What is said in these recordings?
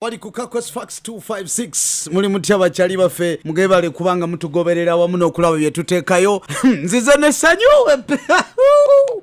wali ku kakos fax 256 muli mutya bakyali baffe mugebale kubanga mutugoberera wamu n'okulaba bye tuteekayo nzize nesanyu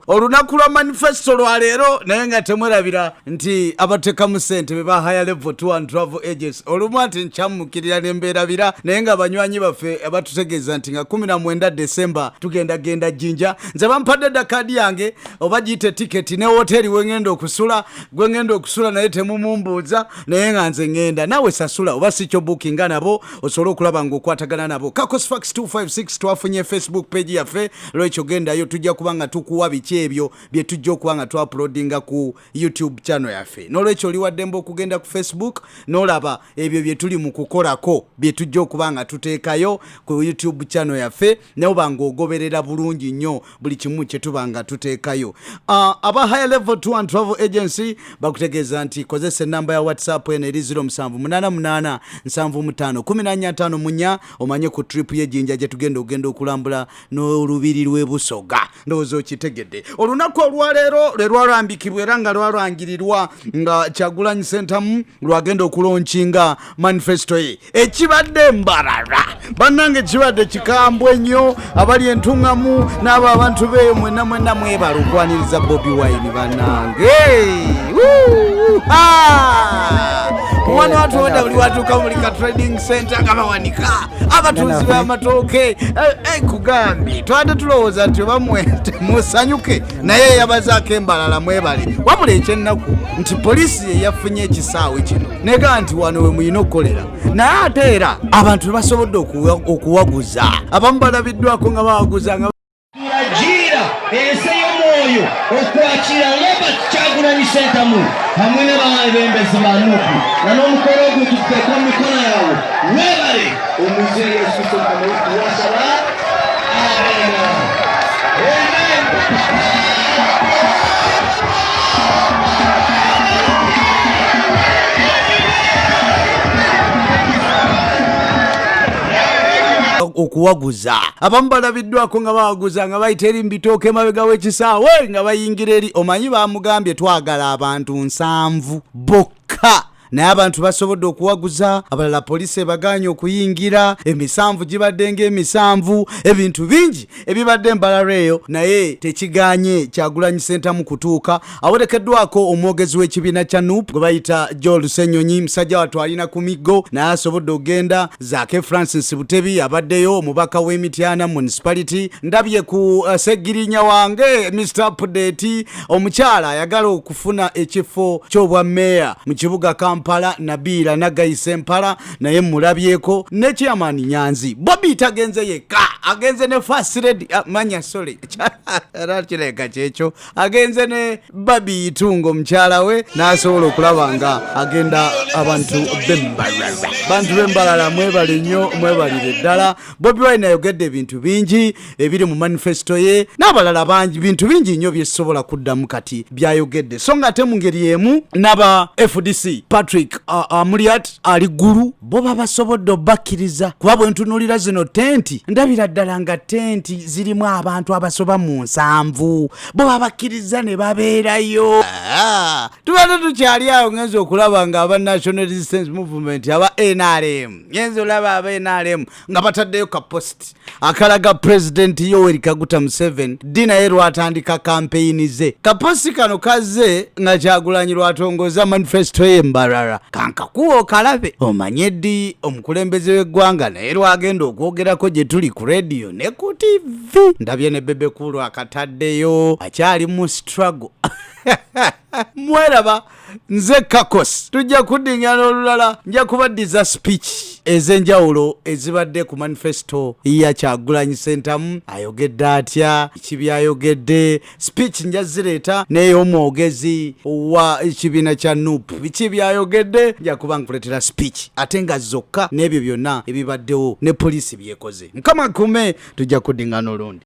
olunaku lwa manifesto lwaleero naye nga temwerabira nti abatekamu sente be bahaya level to and travel agents olumu nti nkyamukirira nembeerabira naye nga banywanyi baffe abatutegeeza nti nga 19 desemba tugenda genda jinja nze bampadde dda kaadi yange oba giyite tiketi ne woteeri wengenda okusula gwe ngenda okusula naye temumumbuuza naye nga nze ngenda naawe sasula oba si kyo bukinga nabo osobole okulaba ngaokwatagana nabo kakosfax 256 twafunye facebook page yaffe lwekyo gendayo tujja kuba nga tukuwa biki ebyo bye tujja okuba nga twapulodinga ku youtube channel yaffe nolwekyo oliwaddemba okugenda ku facebook nolaba ebyo bye tuli mu kukolako bye tujja okuba nga tuteekayo ku youtube channel yaffe naye oba ng'ogoberera bulungi nnyo buli kimu kye tuba nga tuteekayo ah, aba high level tour and travel agency bakutegeeza nti kozesa ennamba ya whatsapp eno eri 07887515 munya omanye ku trip y'ejjinja gye tugenda okugenda okulambula n'olubiri lw'e busoga ndowooza okitegedde olunaku olwaleero lwe lwalambikibwa era nga lwalangirirwa nga kyagulanyi sentamu lwagenda okulonkinga manifesto ye ekibadde mbarara bannange kibadde kikambwe nnyo abali entuŋŋamu n'abo abantu beeyo mwena mwena mwebala okwaniriza bobi wine bannange omwana watu wada buli watuuka muli ka trading center nga bawanika abatuuzi b'amatooke eh, eh, nkugambye twade tulowooza nti oba mwente musanyuke naye yabazaako embalala mwebale wabula ekyennaku nti poliisi ye yafunye ekisaawe kino nega nti wano we mulina okukolera naye ate era abantu tebasobodde okuwaguza abamu balabiddwako nga bawaguza Yajiira ensi ey'omwoyo okwakira Robert Kyagulanyi Ssentamu hamwe n'abaebembezi ba nup nga n'omukolo ogwo tuteeka mu mikono yaabwe webale omuzeeyi esusokamuwasaba abena okuwaguza abamu balabi baddwako nga bawaguza nga bayita eri mubitooka emabega w'ekisaawe nga bayingira eri omanyi bamugambye twagala abantu nsanvu bokka naye abantu basobodde okuwaguza abalala poliisi ebagaanye okuyingira emisanvu gibadde ng'emisanvu ebintu bingi ebibadde embalala eyo naye tekiganye kyagulanyi sentamu kutuuka awerekeddwako omwogezi w'ekibiina kya nup gwe bayita joel senyonyi musajja watu alina ku miggo naye asobodde okugenda zaake francis butebi abaddeyo omubaka w'emityana municipality ndabye ku uh, segirinya wange mr update omukyala ayagala okufuna ekifo ky'obwa meeya mu kibuga kampala nabiira nagayisa empala naye mulabyeko ne chairman nyanzi bobi tagenze yekka agenze ne fasiredi ah, manya sole era kireka kyekyo agenze ne babi itungo mukyala we n'asobola okulaba nga agenda abantu bembalala bantu bembalala mwebale nnyo mwebalire ddala bobi wine ayogedde ebintu bingi ebiri mu manifesto ye n'abalala bangi bintu bingi nnyo byesobola kuddamu kati byayogedde so nga ate mu ngeri emu n'aba fdc patrick amuliat ali ggulu bo babasobodde obakkiriza kuba bwe ntunuulira zino tenti ndabira ddala nga tenti zirimu abantu abasoba mu nsanvu bo babakkirizza ne babeerayo ah, tubadde tukyali awo ngenza okulaba nga aba national resistance movement aba nrm ngenza olaba aba nrm nga bataddeyo ka post akalaga pulezidenti yoweri kaguta museven ddi naye lwatandika kampeyini ze kaposti kano kazze nga kyagulanyi lwatongoza manifesito ye mbarara kankakuwa okalabe omanye ddi omukulembeze w'eggwanga naye lwagenda okwogerako gye tuli ku rediyo ne ku tivi ndabye ne bebekulu akataddeyo akyali mu strago mweraba nze kakos tujja kuddingana olulala nja kubaddiza speech ez'enjawulo ezibadde ku manifesto ya kyagulanyi sentamu ayogedde atya kibyayogedde speech nja zireeta ney'omwogezi wa ekibiina kya nup biki byayogedde nja kuba nkuleetera speech ate nga zokka n'ebyo byonna ebibaddewo ne poliisi byekoze mukama kume tujja kuddingana olundi